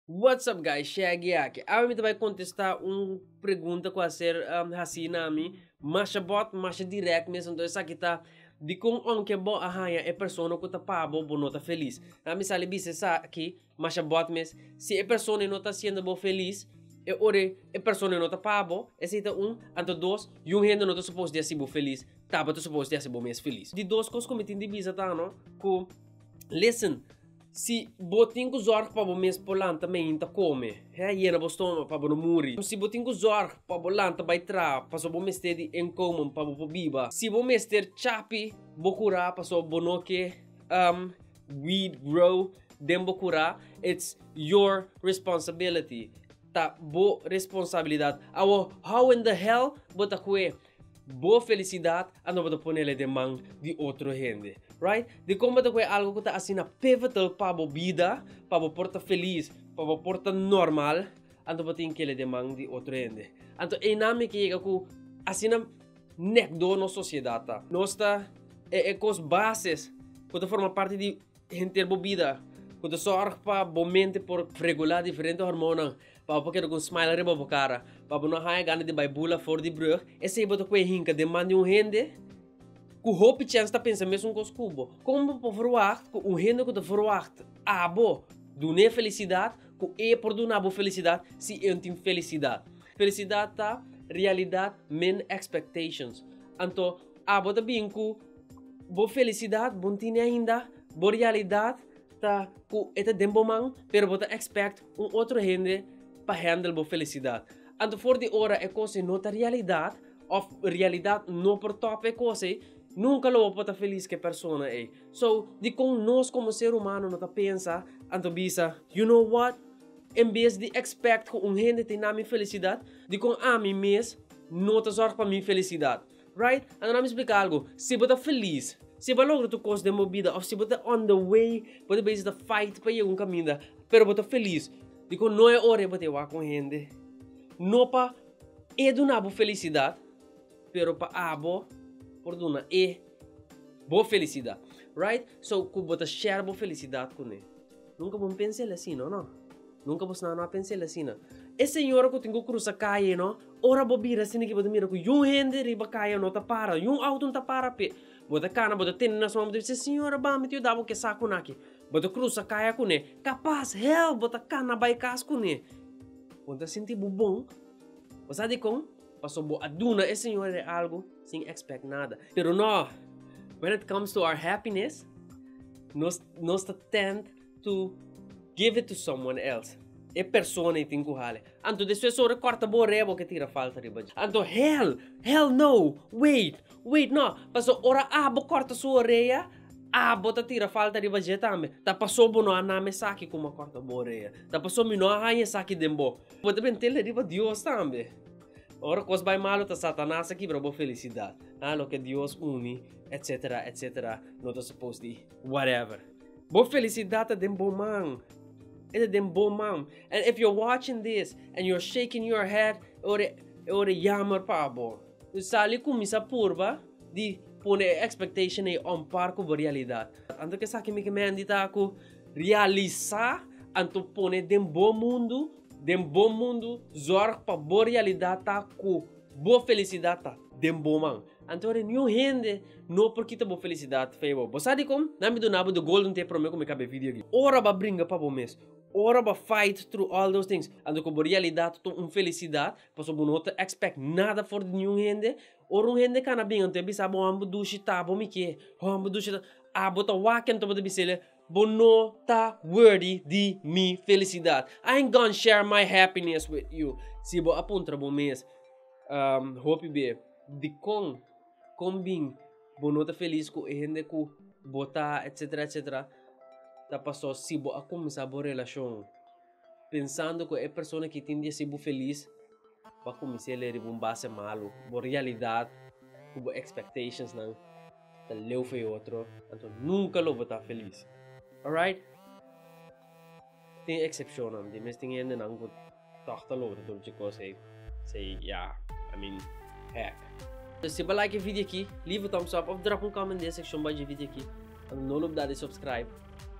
What's up guys Shaggy aki awe mi ta bai contesta un pregunta cu a ser um, haci na mi masha bot masha direct mes anto esaki ta di con aunke bo a haya e persona cu ta pa bo bo no ta feliz na mi sali bisa esaki masha bot mes si e persona e no ta haciendo bo feliz e ora e persona e no ta pa bo esaki ta un anto dos yu hende no ta suppose di haci bo feliz tabata suppose di haci bo mes feliz di dos cos cu mi tin di bisa ta no cu listen. Si bo tin ku zòrg pa bo mes por lanta mainta kome, hèh, yena bo stoma pa bo no muri. Si bo tin ku zòrg pa bo lanta bai traha, paso bo mester di inkomen pa bo por biba. Si bo mester chapi bo kura paso bo no ke um weed grow den bo kura, it's your responsibility, ta bo responsabilidat. Awor, how in the hell bo ta kue Bo felicidad a no bo ta ponele den man di otro hende right dicon bo ta cu e algo cu ta asina pivotal pa bo bida pa bo por ta feliz pa bo por ta normal anto bo tin kele den man di otro hende anto einan mi ke yega cu asina nekdo nos sociedad ta nos ta e cos bases cu ta forma parti di. Henter bo bida ku ta sòrg pa bo mente por regulá diferente hormonnan pa bo por keda ku un smile riba bo kara, pa bo no haña gana di bai bula for di brùg, esei bo ta kue hinka deman di un hende ku hopi chèns ta pensa mesun kos ku bo. Kon bo por ferwagt ku un hende ku ta ferwagt abo dun'é felisidat, ku e por duna bo felisidat si e no tin felisidat? Felisidat ta realidat min expectations. Anto Abo ta bin ku bo felisidat bon tini ainda, bo realidat ta ku e ta den bo man, pero bo ta expect un otro hende pa handle bo felisidat. Anto for di ora e kos ei no ta realidat of realidat no por top e kos ei, nunka lo bo por ta felis ku e persona ei. So, dikon nos komo ser humano no ta pensa anto bisa, You know what? En bes di expect ku un hende ta na mi felisidat, dikon ami mes no ta zorg pa mi felisidat? Right? Anto nan mi splika algu, si bo ta felis, si bo a logra tur kos den bo bida òf si bo ta on the way, bo ta basic ta fight pa yega un kaminda, pero bo ta felis, dikon no e ora bo ta wak kon hende. No pa e duna bo felisidat, pero pa abo por duna e bo felisidat. Right? So, ku bo ta share bo felisidat kuné. Nunka bo mpensa el asina, no. Nunka bos nano a pensa el asina. E señora ku tin ku krusa kaye, no, ora bo bira asina aki bo ta mira ku yun hende riba kaye no ta para, yun outo no ta para p'e. Bo ta kana, bo ta tende na su man, bo ta bisa, Señora, ban mi ta yuda bo ku e sakunan aki. Bo ta krusa kaya kuné, kapas, hèl, bo ta kana bai kas kuné. Bo ta sinti bo bon. Bo sa dikon? Pasobra bo a duna e señora e algu sin èkspèk nada. Pero no! When it comes to our happiness, nos. Nos ta tend to give it to someone else. E persona tin ku hale. Anto despues ora korta bo ore bo ke tira falta riba dje. Anto hell, hell no, wait, wait no. Paso ora abo korta su orea, abo ta tira falta riba dje tambe. Ta paso bo no a nam esaki ku m'a korta bo orea. Ta paso mi no a haña esaki den bo. Bo ta bin tila riba Dios tambe. Ora kos bai malu ta Satanas a kibra bo felisidat. Loke Dios uni, etcetera, etcetera no ta supos di. whatever. Bo felicidad ta den bo man. Ete den bo man. And if you're watching this and you're shaking your head, ore, ore jammer pa bo. U sali kumisa purba di pone e expectation ei on par ku bo realidad. Anto ke esaki mi ke Mandy ta ku realisa, anto pone den bo mundu, den bo mundu, zorg pa bo realidad ta ku bo felicidad ta den bo man. Anto ora niun hende no por kita bo felisidad fe bo. Bo sa dikon? Nan mi duna bo de golden tip prome ku mi kab'e video aki. Ora bo a bringa pa bo mes, ora bo a fight through all those things, anto ku bo realidad ta un felisidad, pasobra bo no ta expect nada for di niun hende. Ora un hende kana bi'en anto e bisa bo, Ho'an bo dushi ta bo mi ke? Ho'an bo dushi ta. Abo ta wak anto bo ta bisa el e. Bo no ta worthy di mi felicidad. I ain't gonna share my happiness with you. Si bo a puntra bo mes um hopi be dikon kon bin bo no ta felis ku e hende ku bo ta etcetera etcetera ta pasó si bo a kuminsá bo relashon. pensando cu e persona ki tin di haci bo feliz ba cuminse le riba un base malo, bo realidad cu bo expectations nan ta leu for e otro, anto nunca lo bo ta feliz. Alright? Tin excepcionnan, di mes tin hendenan cu toch ta logra dolochi cos ey, sey ya, I mean, heck. Si bo like e video aki, leave a thumbs up of drop un comment den e seccion bajo e video aki, and no lo bda di subscribe.